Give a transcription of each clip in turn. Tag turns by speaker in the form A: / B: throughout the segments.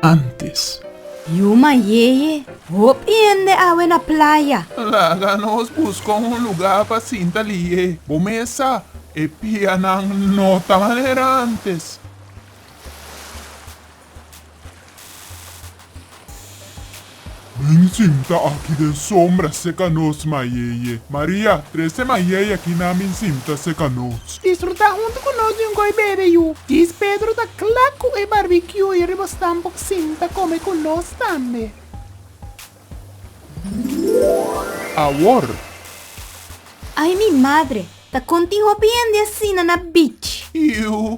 A: antes. Yuma
B: yeye, hop hende awe na playa. Laga nos
A: buska un luga pa sinta li'é. Bo mesa, e pianan no ta manera antes. Bin sinta aki den sombra seka nos mayeye. Maria, trese mayeye aki nan bin sinta seka nos. Disfruta huntu ku
C: nos di un goi bebe yu. Dis Pedro ta kla ku e barbecue i riba stamp por sinta kome ku nos tambe.
A: Awor.
B: Ay mi madre, ta kontin hopi hende asina na beach. Iu,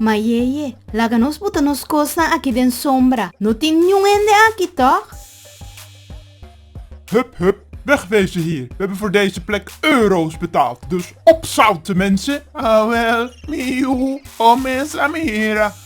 B: Mayeye, laga nos buta nos kosnan aki den sombra. No tin niun hende aki, tòg?
A: Hup, hup, wèg wezen hier! We hebben voor deze plek euro's betaald, dus opzouten, mensen! Awèl, mi yu, o mes a mi hera.